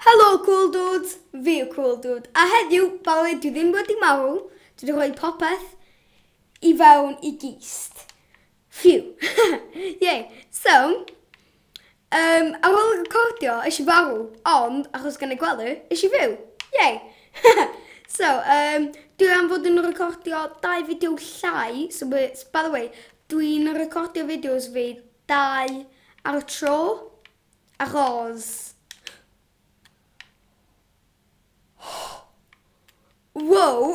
Helo Cool Dudes, fi yw Cool Dude, a heddiw, fel dwi ddim wedi marw, dwi wedi rhoi popeth i fewn i gist. Phew. Yay. So, um, ar ôl recordio, is i farw, ond achos gan ei gwely, is i fyw. Yay. so, um, dwi am fod yn recordio dau fideo llai, so, by the way, dwi'n recordio fideos fi Dau ar y tro, a Ros. Wow!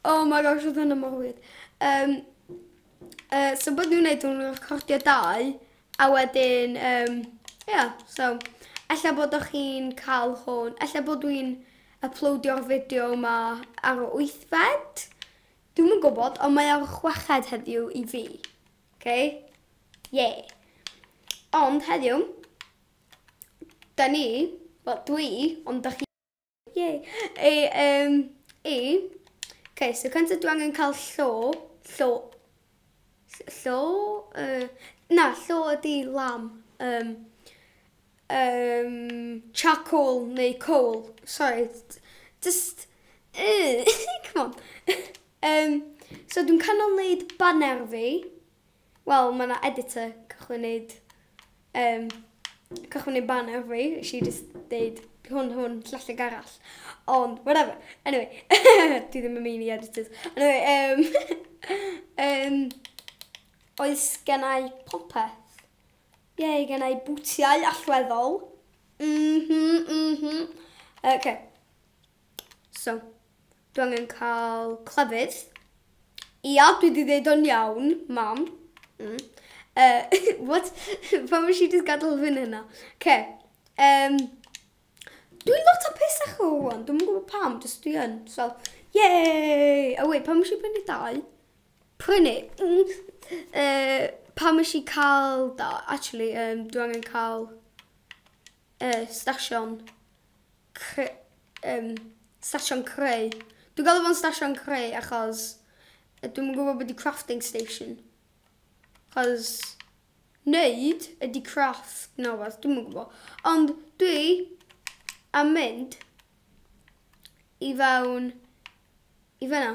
oh my gosh, oedd hwnna mor wir. Um, uh, so bod nhw'n neud nhw'n recordio dau, a wedyn, um, yeah, so, ella bod o'ch chi'n cael hwn, ella bod dwi'n uploadio'r fideo yma ar y wythfed, Dwi'm yn gwybod ond mae o ar chweched heddiw i fi. Ok? Ie. Ond heddiw, da ni, wel dwi, ond da chi. Ie. Ei, yym, i. Ok, so cyntaf dwi angen cael llo, llo, Llo? Yy, na, llo ydi lamb. Um, um, charcoal neu coal. Sorry, just... Uh, come on. um, so dwi'n canol wneud banner fi. Wel, mae yna editor cychwyn wneud Yym, cychwyn ei banner fi, nes i jyst deud hwn, hwn, llall ag arall. Ond, whatever. Anyway, dwi ddim yn mynd i editors. Anyway, um, um, oes gennau popeth. Ie, yeah, gennau bwtiau allweddol. Mhm, mhm. Oce. Okay. So, dwi angen cael clefyd. Ia, dwi di ddeud o'n iawn, mam. Mm. Uh, what? Pam eisiau just gadael fy hynna? Ce. Um, dwi lot o pesach o hwn. Dwi'n gwybod pam, just dwi yn. So, yay! A oh, wait, pam eisiau prynu dau? Prynu. Mm. Uh, pam eisiau cael da? Actually, um, dwi angen cael uh, stasion Cre- um, station creu. Dwi'n gael fo'n station creu achos dwi'n gwybod beth i crafting station. Achos neud ydy craft na fath, dwi'n gwybod. Ond dwi am mynd i fewn i fyna.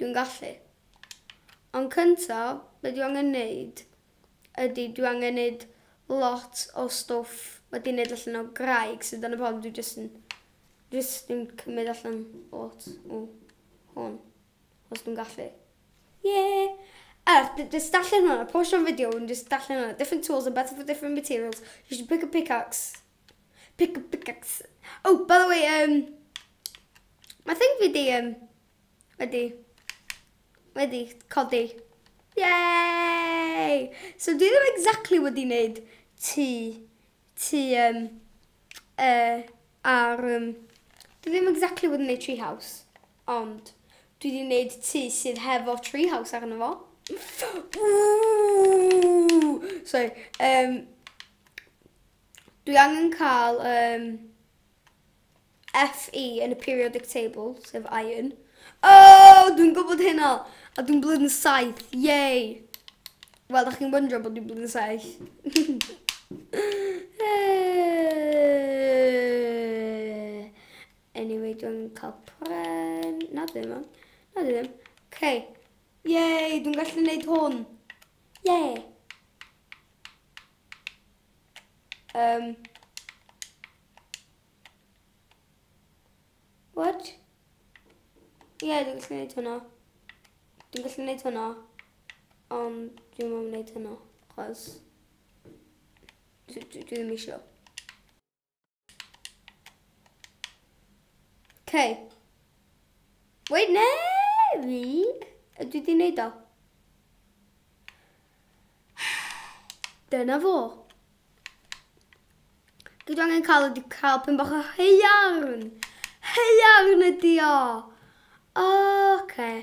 Dwi'n gallu. Ond cynta be dwi angen neud ydi dwi angen neud lot o stwff wedi neud allan o graig so dyna pam dwi jyst yn jyst yn cymryd allan lot o hwn. Os dwi'n gallu. Yeah! A jyst darllen hwnna, postio am fideo yn jyst darllen hwnna. Different tools are better for different materials. You should pick a pickaxe. Pick up pickaxe. Oh, by the way, um, mae thing fi di, um, wedi, wedi codi. Yay! So dwi ddim exactly wedi wneud ti, ti, um, uh, ar, um, dwi ddim exactly wedi wneud tree house, ond dwi wedi wneud ti sydd hefo tree house arno fo. Ooh! Sorry, um, Dwi angen cael um, FE yn y periodic table, sef iron. Oh, dwi'n gwybod hynna! A dwi'n blwyddyn 7, yay! Wel, da chi'n wyndro bod dwi'n blwyddyn 7. anyway, dwi'n cael pren... Na, dwi ddim. Na, dwi ddim. Okay. Yay, dwi'n gallu gwneud hwn. Yay! Um. What? Ie, yeah, dwi'n gallu gwneud hwnna. Dwi'n gallu gwneud hwnna. Ond dwi'n mwyn gwneud hwnna. Chos... Dwi ddim eisiau. Okay. Wait, ne! Fi? Ydw i di wneud o? Dyna fo. Dwi angen cael ydi cael pyn bach o heiarn. Heiarn ydi o. Oce. Okay.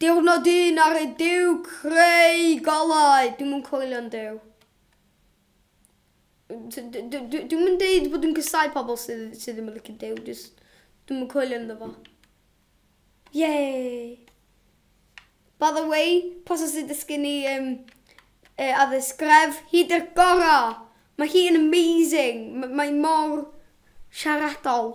Diwrnod un ar y Duw creu golau. Dwi'm yn coelio'n Duw. Dwi'm yn deud bod yn cysau pobl sydd, sydd ddim yn licio Duw, just dwi'm yn coelio ynddo fo. Yay! By the way, pos os ydych gen i um, e, addysg gref, hi dy'r gora! Mae hi yn amazing! Mae mor siaradol.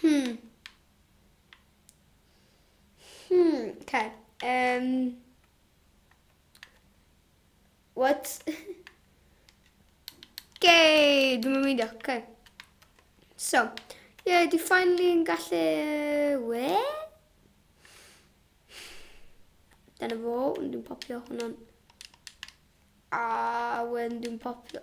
Hmm. Hmm, okay. Um, what? okay, dwi'n mynd meindio. Okay. So, yeah, di finally yn gallu... We? Dyna fo, dwi'n popio hwnna'n... A, wedyn dwi'n popio...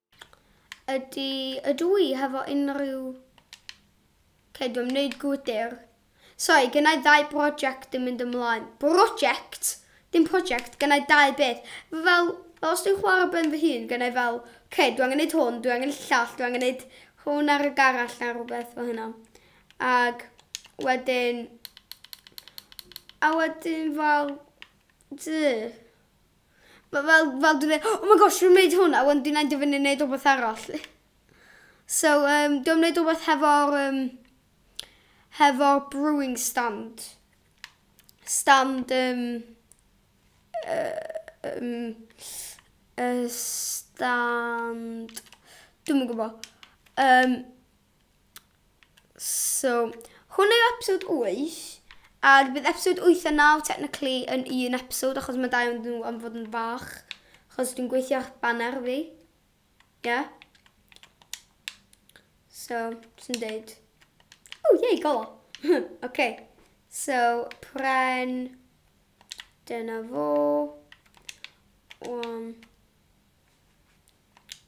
Ydy, ydw i hefo unrhyw Cei di wneud gwydr. Sori, gynnau ddau brosiect yn mynd ymlaen. Brosiect? Dim prosiect, gynnau dau beth. Fel, fel os dwi'n chwarae ben fy hun, gynnau fel, ce, dwi angen neud hwn, dwi angen llall, dwi angen neud hwn ar y garall neu rhywbeth fel hynna. Ac wedyn... A wedyn fel... Duh. fel fel dwi'n mynd oh my gosh dwi'n neud hwn a wedyn dwi'n end up yn neud rwbeth arall. So yym dwi am neud rwbeth hefo'r yym hefo'r brewing stand. Stand yym yym y stand dwi'm yn gwbo. Yym. So, hwn yw episod 8, ac bydd episod 8 a 9 technically yn un episod, achos mae dau o'n nhw am fod yn fach, achos dwi'n gweithio ar banner fi. Yeah. So, sy'n deud... O, oh, yei, golo. okay. So, pren... Dyna fo. Um,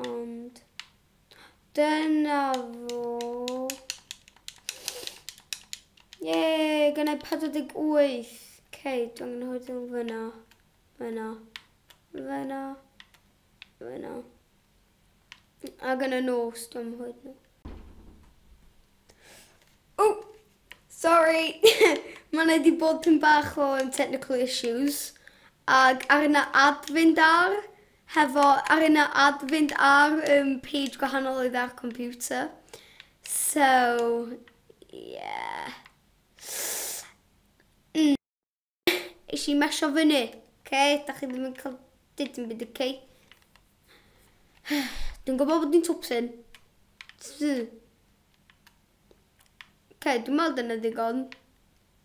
Ond dyna fo. Ie, gan ei 48. Cei, dwi'n mynd hwyth yn fyna. Fyna. Fyna. Fyna. A gan y nos, dwi'n mynd hwyth yn Oh, sorry. Mae'n ei di bod yn bach o technical issues. Ac ar yna adfynd ar. Hefo ar yna ad fynd ar um page gwahanol oedd ar computer. So yeah. Mm. Eisiau i mesio fyny. Oce, da chi ddim yn cael dyd yn byd y cei. Dwi'n gwybod bod ni'n twpsyn. Oce, dwi'n meddwl dyna ddigon.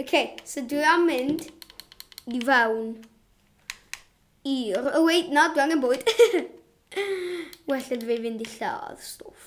Okay, so dwi am mynd i fewn i'r... Oh wait, na, dwi angen bwyd. well ydw i fynd i lladd stwff.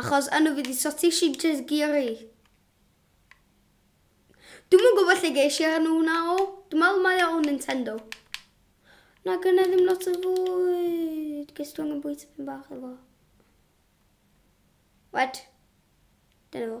Achos yno fydd y sausage i Jezgiri. Dwi'm yn gwybod lle geis i enw hwnna o. Dwi'n meddwl mae o o Nintendo. Na gynna i ddim lot o fwyd. Ges dwi angen bwyta pyn bach efo. Wed. Dyna fo.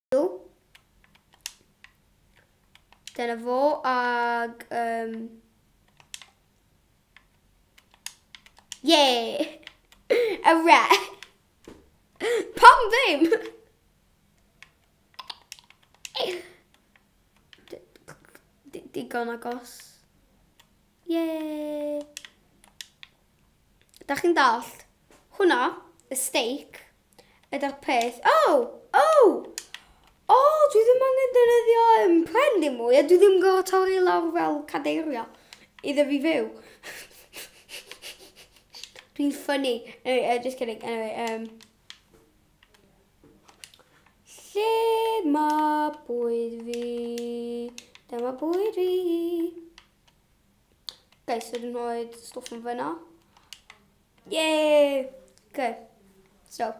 Dyna fo ag... Um... Yeah! A re! Pam ddim? Digon agos. Yeah! Dach chi'n dallt? Hwnna, y steic, ydy'r peth. O! O! O, dwi ddim angen defnyddio yn pren dim mwy, a dwi ddim yn gorfod torri lawr fel cadeirio iddo fi fyw. Dwi'n ffynnu. Anyway, uh, just kidding. Anyway, um, lle mae bwyd fi? Dyma bwyd fi. Guys, so dwi'n rhoi stwff yn fyna. Yay! Ok, so.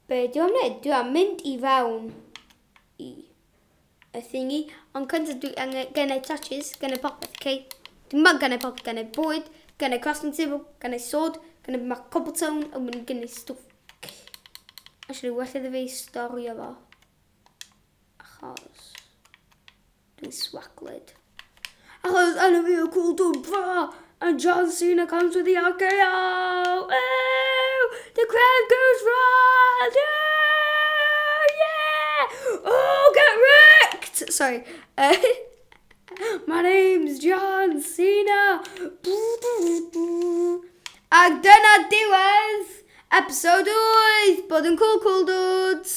Be dwi'n mynd? Dwi am mynd i fewn i y thingy. Ond cyntaf dwi angen gennau touches, gennau popeth, ok? Dwi'n mynd gennau popeth, gennau bwyd, gennau crafting table, gennau sword, gennau ma cobblestone, a mynd gennau stwff. Actually, well iddo fi storio fo. Achos... Dwi'n swaglyd. Achos enw fi yw Cwl Dwb Fara and John Cena comes with the RKO! Ew! The crowd goes wild! Oh, yeah! Oh, get wrecked! Sorry. My name's John Cena! Ac dyna diwedd episode 8 bod yn cool cool dudes!